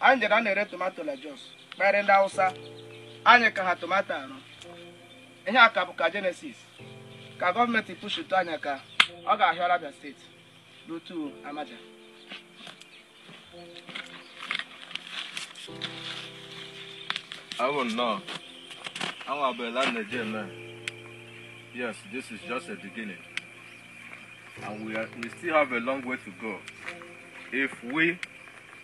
anyị jere na-ere tomato like jos kpere ndị awụsa anyị ka ha tomato arụ ihe a ka bụ ka genesis ka gọọmenti pushutu anyị aka ọ ga-ahịọrọ abịa steeti n'otu amaja I will know. I will be land again, man. Yes, this is just a beginning. And we, are, we still have a long way to go. If we,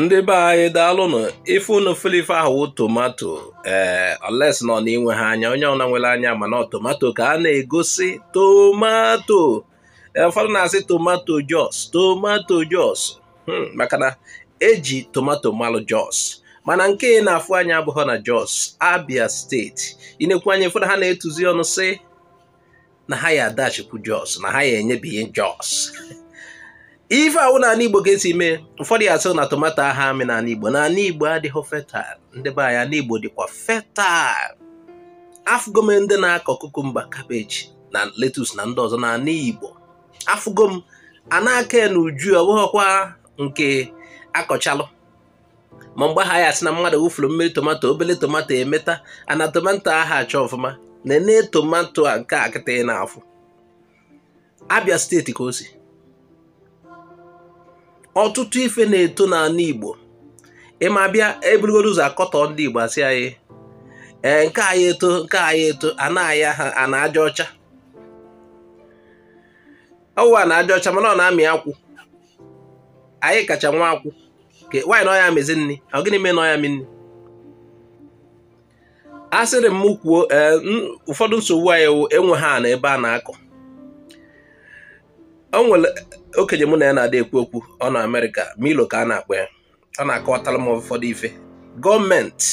ndị be anyị daalụnụ ife unu fụlụ ife ahụ wụ tomato ee eh, unless ọ na inweha anya onye ọwụna nwere anya ma na ọ tomato ka a na-egosi tomato eh, ụfọdụ na-asị tomato jos tomato jos hmm, maka na eji tomato malụ jos mana nke ị na-afụ anya abụhọ na jos abia steeti i nekwu anya ụfọdụ ha na-etuzi ọnụ sị na ha ya adachikwu jos na ha ya enyebighị jos ife awụ n'ana igbo ga-esi mee ụfọdụ ya asị na tomato aha amị n'ana igbo na ana igbo adịhọ fertile ndị be anyị ana igbo dịkwa fertile afụgo m ndị na-akọ cucumber cabbage na lettuce na ndị ọzọ n'ana igbo afụgo m a na-akọ ya n'uju ọ wụhọkwa nke a kọchalụ ma mgbe ha ya asị na mmadụ wụfuru mmiri tomato obele tomato emeta ana tomato aha acha ọfụma nene tomato a nke a kịta ị na-afụ abịa steeti ka o si ọtụtụ ife na-eto n'ana igbo ịma abịa eburugodo ụzọ akọtọ ndị igbo asị anyị ee nke anyị eto nke anyị eto ana anyị a ana aja ọcha ọ wụwa ana aja ọcha mana ọ na-amị akwụ anyị kacha nwe akwụ why na ọ ya-amịzi nri ọ gịnị mee na ọ ya-amị nri asịrị m kwuo eh, ụfọdụ nsogbu anyị wụ enweha ana ebe a na-akọ o nwere okenye mụ na ya na-adị ekwu okwu ọ nọ Amerịka Milo ka a na-akpọ ya ọ na-akọwatara m ụfọdụ ife gọọmenti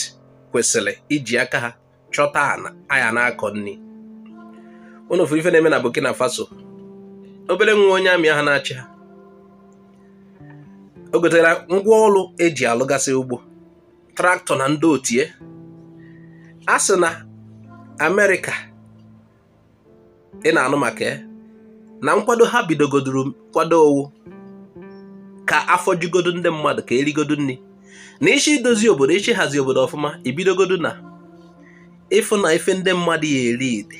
kwesịrị iji aka ha chọta ana a ya na-akọ nri unu fụrụ ife na-eme na Burkina Faso obere nwa onye army ahụ na-achị ha o gotara ngwa ọrụ eji alụgasị ugbo tractor na ndị otu ya a sị na Amerịka ị na-anụ maka ya na nkwado ha bidogoduru kwado ọ wụ ka afọ jugodo ndị mmadụ ka erigodo nri na ị sị idozi obodo ị sị ihazi obodo ọfụma ibidogodo na ịfụ na ife ndị mmadụ ya eri dị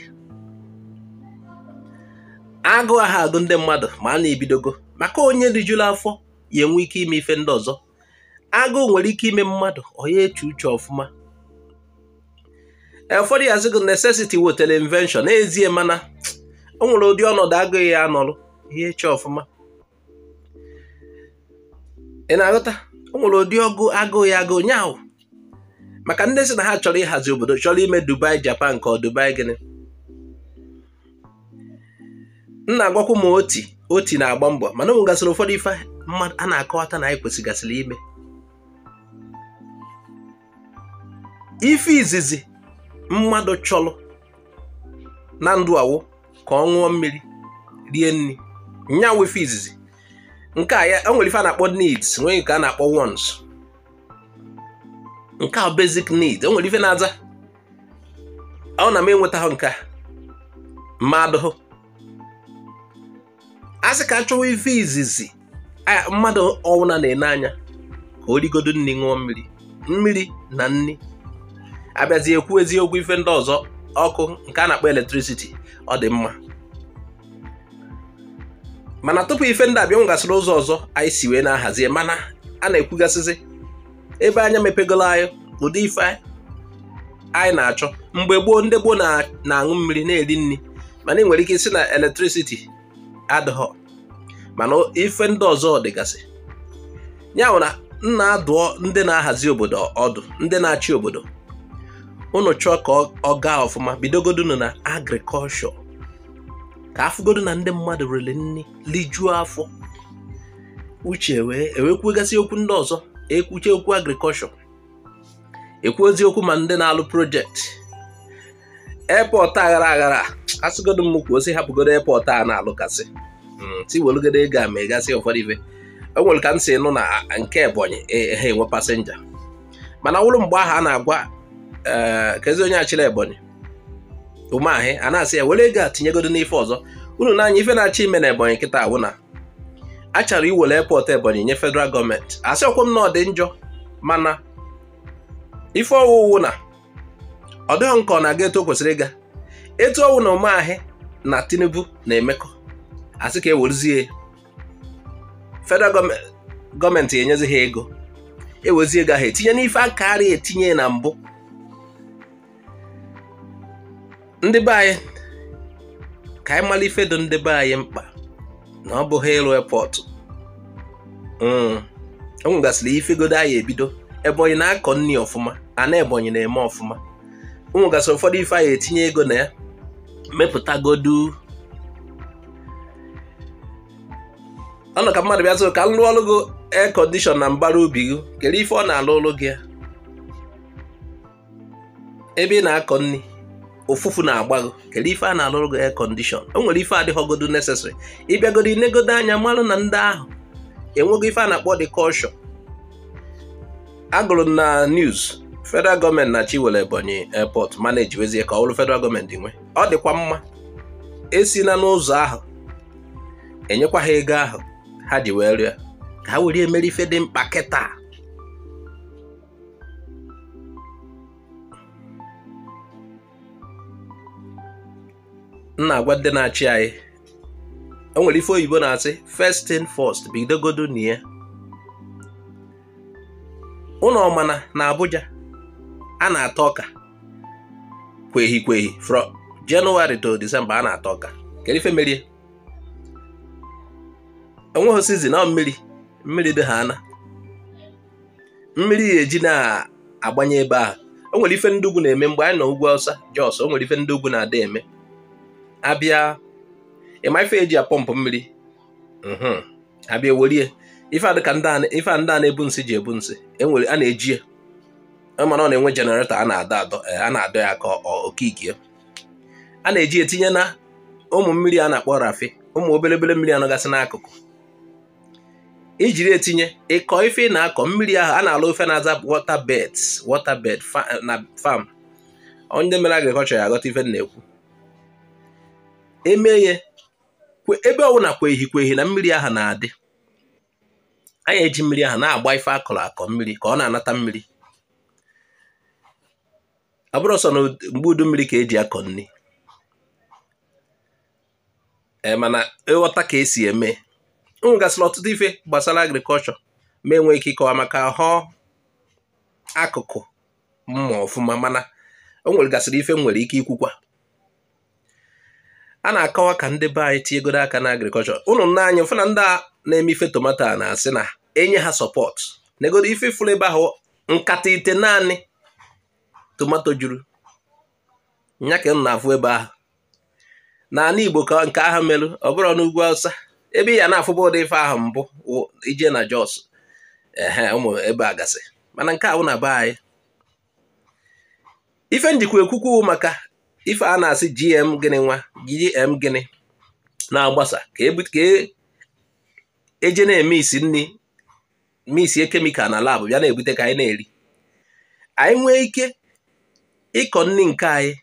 agụụ aha agụ ndị mmadụ maa na ibidogo maka onye rijuru afọ ya enwe ike ime ife ndị ọzọ agụụ nwere ike ime mmadụ ọ ya eche uche ọfụma e, ụfọdụ ya asịgo necessity wetara invention n'ezie mana o nwere ụdị ọnọdụ agụụ ị ya anọrụ ị ya eche ọfụma ị na-aghọta o nwere ụdị agụụ ya agụ onye ahụ maka ndị si na ha chọrọ ịhazi obodo chọrọ ime Dubai Japan ka ọ Dubai gịnị m na-agwakwu ma Otti Otti na-agba mbọ mana o nwegasịrị ụfọdụ ife mmadụ a na-akọwata na anyị kwesịgasịrị ime ife izizi mmadụ chọrọ na ndụ awụ ka ọ ṅụọ mmiri rie nri nya wụ ife izizi nke a ya enwere ife a na-akpọ needs nwee nke a na-akpọ wants nke a basic need enwere ife na-aza ọwụ na m enwetaghị nke a mmadụ a sị ka achọwa ife izizi mmadụ ọwụna na-ene anya ka o rigodo nri ṅụọ mmiri mmiri na nri abịazi ekwuzi okwu ife ndị ọzọ ọkụ nke a na-akpọ electricity ọ dị mma mana tupu ife ndị a abịa enwegasịrị ụzọ ọzọ anyị si wee na-ahazie mana a na-ekwugasịzi ebe anya mepegolo anyị ụdị ife anyị na-achọ mgbe gboo ndị gboo na-aṅụ mmiri na-eri nri mana ị nwere ike ịsị na electricity adịghọ mana ife ndị ọzọ dịgasị ya bụ na m na-adụ ndị na-ahazi obodo ọdụ ndị na-achị obodo unu chọọ ka ọ gaa ọfụma bidogodunu na agriculture ka afụgodo na ndị mmadụ riri nri lijuo afọ uche ewee kwugasị okwu ndị ọzọ ekwuche okwu agriculture ekwuozi okwu ma ndị na-alụ project airport aghara aghara asịgodo m kwuo sị hapụgodo airport a na-alụgasị hmm, sị welugodo ego a megasị ụfọdụ ife o nwere ka m si nụ na nke ebonyi e, e, ha enwe passenger mana ọ bụrụ mgbe ahụ a na-agwa eh, kezi onye achịla ebonyi umahi a na-asị ya were ego a tinyegodo n'ife ọzọ unu nee anya ife a na-achọ ime na ebonyi kịta awụ na a chọrọ iwere airport ebonyi nye federal government asịrọkwa m na ọ dị njọ mana ife ọ wụ wụ na ọ dịghị nke ọ na-aga etu o kwesịrị ịga etu ọwụ na umahi na tinubu na-emekọ asị ka ewerezie federal government enyezi ha ego ewezie ego ahụ etinye n'ife akarị etinye na mbụ ndị be anyị ka anyị mara ife dị ndị be anyị mkpa na ọ bụghị ịrụ airport hmm. o nwegasịrị ifegodo anyị ebido ebonyi na-akọ nri ọfụma ana ebonyi na-eme ọfụma o nwegasịrị ụfọdụ ife anyị etinye ego na ya mepụtagodu ọ nọ ka mmadụ bịa sị ka m lụọrọ gị air condition na mbara ubi gị kere ife ọ na-alụrụ gị ya ebe ị na-akọ nri ofufu na-agba gị kedu ife a na-alụrụ gị air condition o nwere ife adịghọgodu necessary ịbịagodo inegodo anya marụ na ndị ahụ enweghị ife a na-akpọ direction agụrụ na news federal gọọmenti na-achọ iwere ebonyi airport manejiwezie ka ọ bụrụ federal gọọmenti nwe ọ dịkwa mma esi na n'ụzọ ahụ enyekwa ha ego ahụ ha ji wee rụọ ya ka ha were emere ife dị mkpa kịta m na-agwa ndị na-achị anyị o nwere ife oyibo na-asị first thing first bidogodo na ya unu ọ mana na Abuja a na-ata ọka kwehi kwehi from January to December a na-ata ọka kedu ife merie o nweghị season na mmiri mmiri dị ha ana mmiri ya eji na-agbanye ebe ahụ o nwere ife ndị ugwu na-eme mgbe anyị nọ ugwu awụsa jos o nwere ife ndị ugwu na-ada eme abịa ịma ife eji apọmpụ mmiri mhm. abịa werie ife a dịka ife a ndị a na-ebu nsị ji ebu nsị enwere a na-eji ya e mana ọ na-enwe generator a na-adọ adọ e, a na-adọ ya ka okike a na-eji etinye na ụmụ mmiri a na-akpọ rafi ụmụ obele obele mmiri anọgasị n'akụkụ ijiri etinye ịkọ ife ị na-akọ mmiri ahụ a na-alụ ife na-aza water beds water bed na farm onye mere agriculture ya aghọta ife m na-ekwu emeghe ebe ọbụla kwehi kwehi na mmiri ahụ na-adị anyị eji mmiri ahụ na-agba ife akọrọ akọ mmiri ka ọ na-anata mmiri ọ bụrọ sọ na mgbe udu mmiri ka eji akọ nri e, mana ịghọta ka esi eme o nwegasịrị ọtụtụ ife gbasara agriculture ma enwe ike ịkọwa maka họ akụkụ m ma ọfụma mana o nwegasịrị ife m nwere ike ikwukwa a na-akọwa ka ndị be anyị tinyegodo aka na agriculture unu nee anya fụ na ndị a na-eme ife tomato a na-asị na enye ha support negodo ife fụrụ ebe ahụ nkata ite naanị tomato juru nya ka m na-afụ ebe ahụ n'ala Igbo ka nke ahụ merụ ọ bụrọ n'ugwu Awụsa ebe ị ya na-afụbu ụdị ife ahụ mbụ i je na Jos ehe ụmụ ebe a gasị mana nke a wụ na be anyị ife m jikwa ekwu okwu maka ife a na-asị GM gịnị nwa GM gịnị na-agbasa ka eje e, e na-eme isi nri misie kemikal na labụ bịa na-ebute ka anyị na-eri anyị nwee ike ịkọ nri nke anyị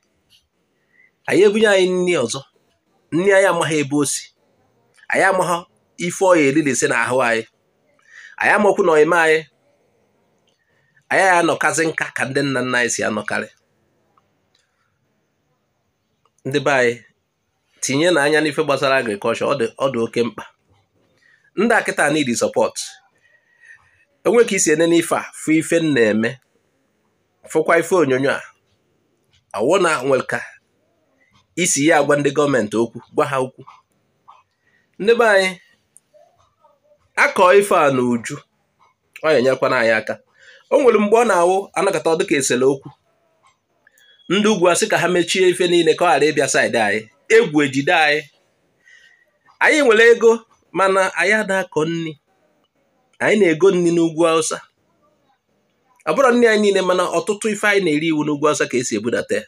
anyị ebunye anyị nri ọzọ nri anyị amaghị ebe o si anyị amaghị ife ọ ya eririsi na ahụ anyị anyị amakwu na ọ ya eme anyị anyị anọkazi nka ka ndị nna nna anyị si anọkarị ndị be anyị tinyenụ anya n'ife gbasara agrikọlshọ ọ dị oke mkpa ndị a kịta need support e nwe ka i si enene ife a fụ ife m na-eme fụkwa ife onyonyo a ọ wụ na nwere ka i si ya agwa ndị gọọmenti okwu gwa ha okwu ndị be anyị akọ ife a n'uju ọ ya enyekwana anyị aka o nwere mgbe ọ na-awụ a nọkata ọ dịka e sere okwu ndị ugwu asị ka ha mechie ife niile ka ọ ghara ịbịa saịdị anyị egwu ejide anyị anyị nwere ego mana anyị ada akọ nri anyị na-ego nri n'ugwu awụsa ọ bụrụ nri anyị niile mana ọtụtụ ife anyị na-eri wụ n'ugwu Awụsa ka e si ebudata ya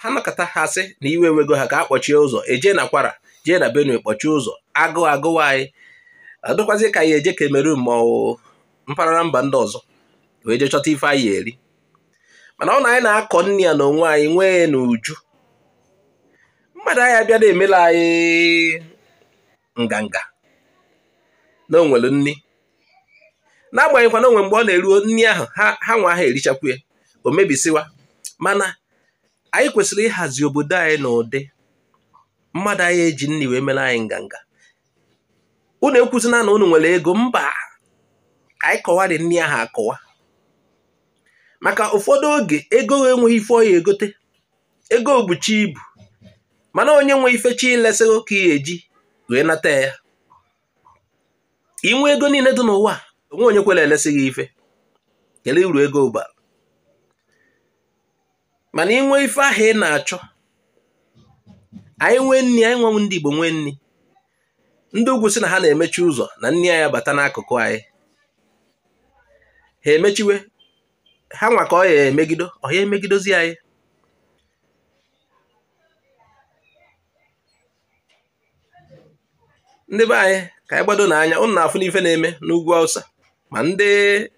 ha nọkata ha sị na iwe ewego ha ka a kpọchie ụzọ e je na Kwara jee na Benue kpọchie ụzọ agụụ agụwa anyị adịkwazi ka a ya eje Cameroon ma ọ mpaghara mba ndị ọzọ wee jee chọta ife a ya eri mana ọ na anyị na-akọ nri a na onwe anyị nwee n'uju mmadụ anyị abịa na-emela anyị nganga na o nwere nri n'agbanyeghịkwa na o nwe mgbe ọ na-eruo nri ahụ ha nwa ha erichakwu ya o mebisiwa mana anyị kwesịrị ịhazi obodo anyị n'ụdị mmadụ anyị eji nri wee mere anyị nganga unu ekwuzina na unu nwere ego mba ka anyị kọwarị nri ahụ akọwa maka ụfọdụ oge ego enweghị ife ọ ya egote ego buchi ibu mana onye nwe ife chọ ilesị gị ka ị eji wee nata ya i nwe ego niile dị n'ụwa o nwe onye kwere elesị gị ife kele uru ego bara mana i nwe ife ahụ ị na-achọ anyị nwee nri anyị nwa wụ ndị Igbo nwee nri ndị ugwu sị na ha na-emechi ụzọ na nri anyị abata n'akụkụ anyị ha emechiwe ha nwa ka ọ ya emegido ọ ya emegidozi anyị ndị be anyị ka anyị gbadonụ anya ụnụ na-afụnụ ife na-eme n'ugwu Hausa ma ndị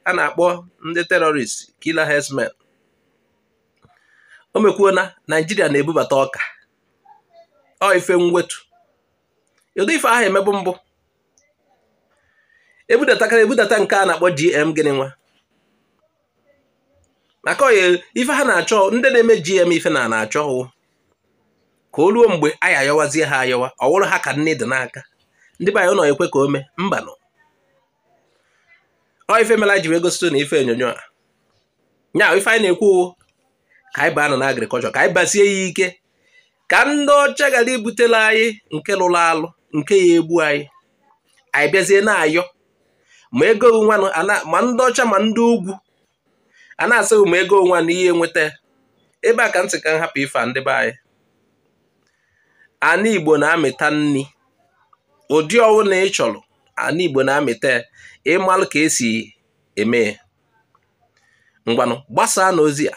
a na-akpọ ndị terrorist killer herdsmen o mekwuo na Naijiria na-ebubata ọka ọ ife mwute ụdị ife ahụ emebu mbụ ebudatakara ebudata nke a na-akpọ GM gịnị nwa maka oye ife ha na-achọ ndị na-eme GM ife ha na-achọ wụ ka o ruo mgbe anyị ayọwazie ha ayọwa ọ wụrụ ha ka nni dị n'aka ndị be anyị ụnụ ekwe ka o mee mbanụ ọ ife mela ji wee gosi ụnụ ife onyonyo a nya ife anyị na-ekwu wụ ka anyị baanụ na agriculture ka anyị basie ya ike ka ndị ọcha ghara ibutela anyị nke lụrụ alụ nke ya egbu anyị abịazie na-ayọ ma ego onwe ma ndị ọcha ma ndị ugwu a na-asịghị ma ego onwe na ihe enweta ebe a ka m sị ka m hapụ ife ndị be anyị ana Igbo na-amịta nri ụdị ọwụna ị chọrọ ana Igbo na-amịta ị malụ ka e si eme ngwanụ gbasaanụ ozi a